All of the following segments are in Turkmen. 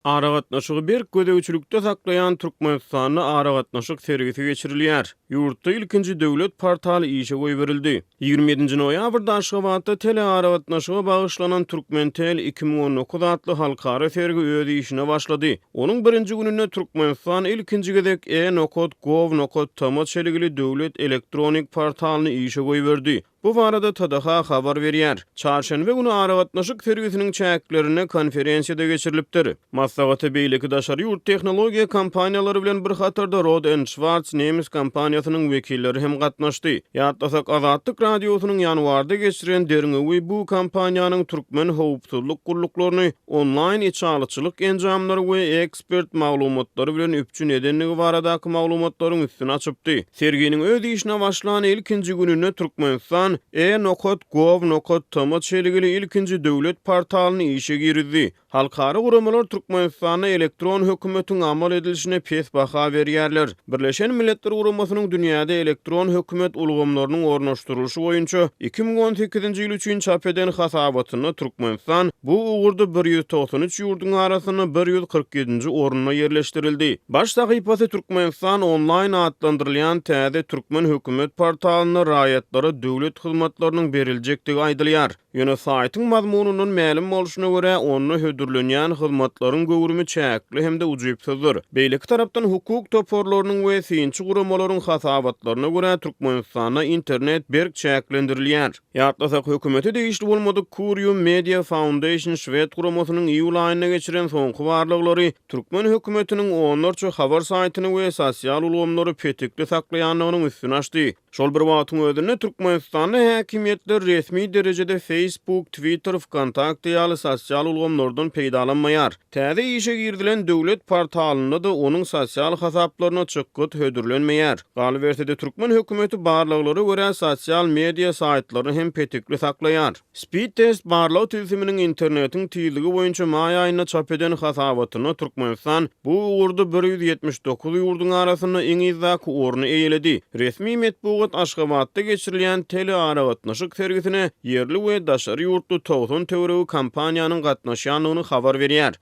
Aragatnaşygy berk gözegçilikde saklaýan Türkmenistanda aragatnaşyk sergisi geçirilýär. Ýurtda ilkinji döwlet portaly işe goýberildi. Ýigrimi ýedinji noýabrda Aşgabatda telearagatnaşyga bagyşlanan Turkmentel iki müň on dokuz atly halkara sergi öz işine başlady. Onuň birinji gününde Türkmenistan ilkinji gezek E-nokat. Gov. Nokat. Tm çelgili döwlet elektronik portalyny işe goýberdi. Bu barada TDH habar berýär. Çarşenbe güni aragatnaşyk sergisiniň çäklerinde konferensiýa-da geçirilipdir. Maslahata beýleki daşary ýurt tehnologiýa kompaniýalary bilen bir hatarda Rohde and Schwarz nemes kompaniýasynyň wekilleri hem gatnaşdy. Ýatlasak, Azatlyk Radiosynyň ýanwarda geçiren derňewi bu kompaniýanyň türkmen howpsuzlyk gulluklaryny onlaýn içalyçylyk enjamlary we ekspert maglumatlary bilen üpjün edendigi baradaky maglumatlaryň üstüni açypdy. Serginiň öz işine başlan ilkinji gününde Türkmenistan e-nokat.gov.tm çelgili ilkinji döwlet portalyny işe girizdi. Halkara guramalar Türkmenistanda elektron hökümetiň amal edilişine pes baha berýärler. Birleşen Milletler Guramasynyň dünýäde elektron hökümet ulgamlarynyň ornaşdyrylyşy boýunça iki müň on sekizinji ýyl üçin çap eden hasabatynda Türkmenistan bu ugurda bir ýüz togsan üç ýurduň arasynda bir ýüz kyrk ýedinji orunda ýerleşdirildi. Baş sahypasy Türkmenistan onlaýn atlandyrylýan täze türkmen hökümet portalynda raýatlara döwlet hyzmatlarynyň beriljekdigi aýdylýar. Ýöne saýtyň mazmunyndan mälim bolşuna görä, onda hödürlenýän hyzmatlaryň göwrümi çäkli hem-de ujypsyzdyr. Beýleki tarapdan, hukuk toparlarynyň we synçy guramalaryň hasabatlaryna görä, Türkmenistanda internet berk çäklendirilýär. Ýatlasak, hökümete degişli bolmadyk Curium Media Foundation şwed guramasynyň iýul aýynda geçiren soňky barlaglary türkmen hökümetiniň onlarça habar saýtyny we sosial ulgamlary petikli saklaýandygynyň üstüni açdy. Şol bir wagtyň özünde Türkmenistanda häkimiýetler resmi derejede Facebook, Twitter, Vkontakte ýaly sosial ulgamlardan peýdalanmaýar. Täze işe girizilen döwlet portalynda-da onuň sosial hasaplaryna çykgyt hödürlenmeýär. Galyberse-de, türkmen hökümeti barlaglara görä sosial media saýtlaryny hem petekli saklaýar. Speed Test barlag tilsiminiň internetiň tizligi boýunça maý aýynda çap eden hasabatynda Türkmenistan bu ugurda bir ýüz ýetmiş dokuz ýurduň arasynda iň yzdaky orny eýeledi. Resmi metbugat Aşgabatda geçirilýän telearagatnaşyk sergisine ýerli we daşary ýurtly togsan töweregi kompaniýanyň gatnaşýandygyny habar berýär.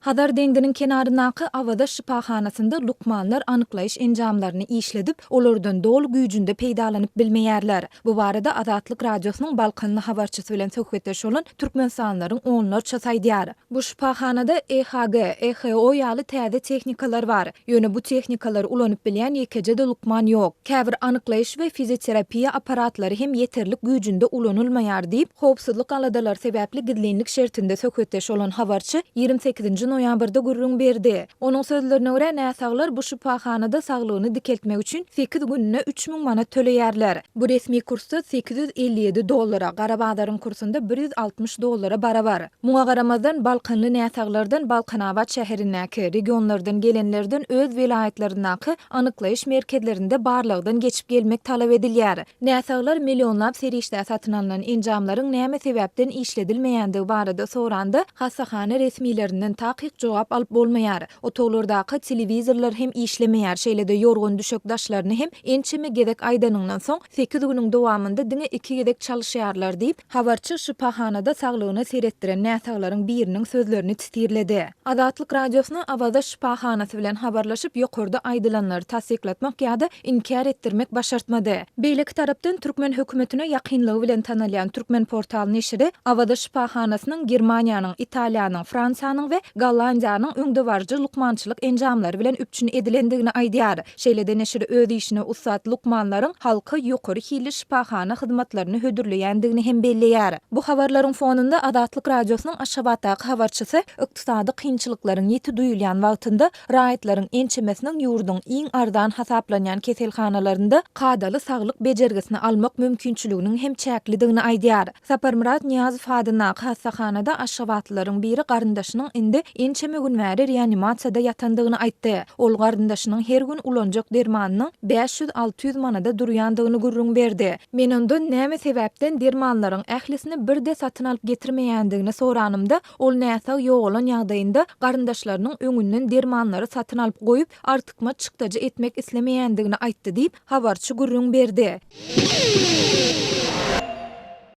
Hazar deňziniň kenaryndaky Awaza şypahanasynda lukmanlar anyklaýyş enjamlaryny işledip, olardan doly güýjünde peýdalanyp bilmeýärler. Bu barada Azatlyk Radiosynyň balkanly habarçysy bilen söhbetdeş bolan türkmenistanlylaryň onlarçasy aýdýar. Bu şypahanada EHG, EHO ýaly täze tehnikalar bar. Ýöne bu tehnikalar ulanyp bilýän ýekeje-de lukman ýok. Käbir anyklaýyş we fizioterapiýa apparatlary hem ýeterlik güýjünde ulanylmaýar diýip, howpsuzlyk aladalary sebäpli gizlinlik şertinde söhbetdeş bolan habarçy ýigrimi sekizinji noýabrda gürrüň berdi. Onuň sözlerine görä, näsaglar bu şypahanada saglygyny dikeltmek üçin sekiz gününe üç müň manat töleýärler. Bu resmi kursda sekiz ýüz elli ýedi dollara, gara bazaryň kursunda bir ýüz altmyş dollara barabar. Muňa garamazdan, balkanly näsaglardan Balkanabat şäherindäki, regionlardan gelenlerden öz welaýatlaryndaky anyklaýyş merkezlerinde barlagdan geçip gelmek talap edilýär. Näsaglar millionlap serişdä satyn alnan enjamlaryň näme sebäpden işledilmeýändigi barada soranda, hassahana resmilerinden takyk jogap alyp bolmaýar. Otaglardaky telewizorlar hem işlemeýär, şeýle-de ýorgan-düşek daşlaryny hem ençeme gezek aýdanyňdan soň, sekiz günüň dowamynda diňe iki gezek çalyşýarlar diýip, Habarçy şypahanada saglygyna seretdiren näsaglaryň biriniň sözlerini titirledi. Azatlyk Radiosyna Awaza şypahanasy bilen habarlaşyp, ýokarda aýdylanlary tassyklatmak ýa-da inkär etdirmek başartmady. Beýleki tarapdan, türkmen hökümetine ýakynlygy bilen tanalýan Turkmenportal neşiri Awaza şypahanasynyň Germaniýanyň, Italiýanyň, Fransiýanyň we Gollandiýanyň öňdebaryjy lukmançylyk enjamlary bilen üpjün edilendigini aýdýar. Şeýle-de neşir öz işine ussat lukmanlaryň halka ýokary hilli şypahana hyzmatlaryny hödürleýändigini hem belleýär. Bu habarlaryň fonunda Azatlyk Radiosynyň Aşgabatdaky habarçysy ykdysady kynçylyklaryň ýiti duýulýan wagtynda raýatlaryň ençemesiniň ýurduň iň arzan hasaplanýan keselhanalarynda kadaly saglyk bejergisini almak mümkinçiliginiň hem çäklidigini aýdýar. Saparmyrat Nyýazow adyndaky hassahanada aşgabatlylaryň biri garyndaşynyň indi ençeme gün bäri reanimasiýada ýatandygyny aýtdy. Ol garyndaşynyň her gün ulanjak dermanynyň bäş ýüz, alty ýüz manada durýandygyny gürrüň berdi. Men ondan näme sebäpden dermanlaryň ählisini birde satyn alyp getirmeýändigini soranymda, ol näsag ýogalan ýagdaýynda garyndaşlarynyň öňünden dermanlary satyn alyp goýup, artykmaç çykdajy etmek islemeýändigini aýtdy diýip, Habarçy gürrüň berdi.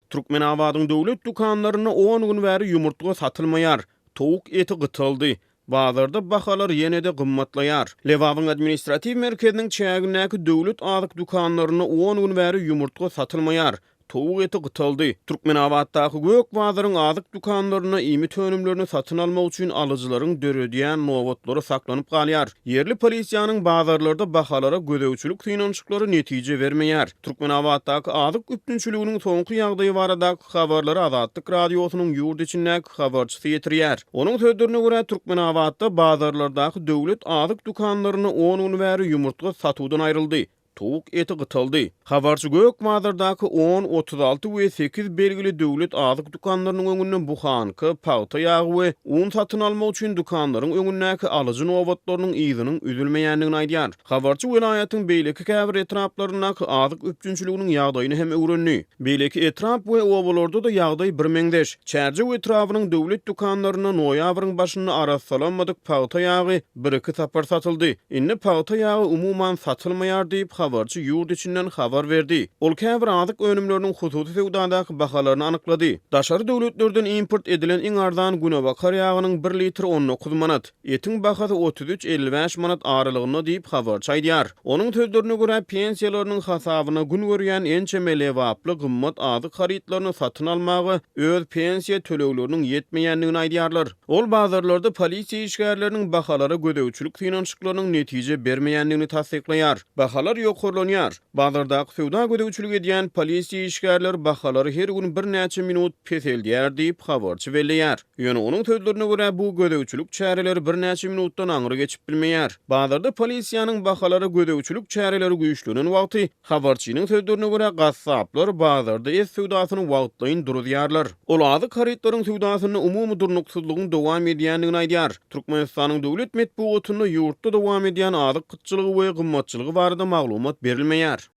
Türkmenabadyň döwlet dükanlarynda on gün bäri ýumurtga satylmaýar. Towuk eti gytaldy. Bazarda bahalar ýene-de gymmatlaýar. Lebabyň administratiw merkeziniň çägindäki döwlet azyk dükanlarynda on gün bäri ýumurtga satylmaýar. Towuk eti gytaldy. Türkmenabatdaky Gök bazaryň azyk dükanlarynda iýmit önümlerini satyn almak üçin alyjylaryň döredýän nobatlary saklanyp galýar. Ýerli polisiýanyň bazarlarda bahalara gözegçilik synanyşyklary netije bermeýär. Türkmenabatdaky azyk üpjünçiliginiň soňky ýagdaýy baradaky habarlary Azatlyk Radiosynyň ýurt içindäki habarçysy ýetirýär. Onuň sözlerine görä, Türkmenabatda bazarlardaky döwlet azyk dükanlarynda on gün bäri ýumurtga satuwdan aýryldy. Towuk eti gytaldy. Habarçy Gökbazardaky on, otuz alty we sekiz belgili döwlet azyk dükanlarynyň öňünden buhanka, pagta ýagy we un satyn almak üçin dükanlaryň öňündäki alyjy nobatlarynyň yzynyň üzülmeýändigini aýdýar. Habarçy welaýatyň beýleki käbir etraplaryndaky azyk üpjünçiliginiň ýagdaýyny hem öwrendi. Beýleki etrap we obalarda-da ýagdaý birmeňzeş. Çärjew etrabynyň döwlet dükanlarynda noýabryň başynda arassalanmadyk pagta ýagy, Bir-iki sapar satyldy. Indi pagta ýagy umuman satylmaýar diýip, habarçy ýurt içinden habar berdi. Ol käbir azyk önümleriniň hususy söwdadaky bahalaryny anyklady. Daşary döwletlerden import edilen iň arzan günebakar ýagynyň bir litri on dokuz manat, etiň bahasy otuz üç, elli bäş manat aralygynda diýip, habarçy aýdýar. Onuň sözlerine görä, pensiýalarynyň hasabyna gün görýän ençeme lebaply gymmat azyk harytlaryny satyn almaga öz pensiýa tölegleriniň ýetmeýändigini aýdýarlar. Ol bazarlarda polisiýa işgärleriniň bahalara gözegçilik synanyşyklarynyň netije bermeýändigini tassyklaýar. Bahalar ýokarlanýar. Bazardaky söwda gözegçilik edýän polisiýa işgärleri bahalary her gün birnäçe minut peseldýär diýip, habarçy belleýär. Ýöne onuň sözlerine görä, bu gözegçilik çäreleri birnäçe minutdan aňry geçip bilmeýär. Bazarda polisiýanyň bahalara gözegçilik çäreleri güýçlenen wagty Habarçynyň sözlerine görä, gassaplar bazarda et söwdasyny wagtlaýyn duruzýarlar. Ol azyk harytlaryň söwdasynda umumy durnuksyzlygyň dowam edýändigini aýdýar. Türkmenistanyň döwlet metbugatynda ýurtda dowam edýän azyk gytçylygy we gymmatçylygy barada maglumat berilmeýär.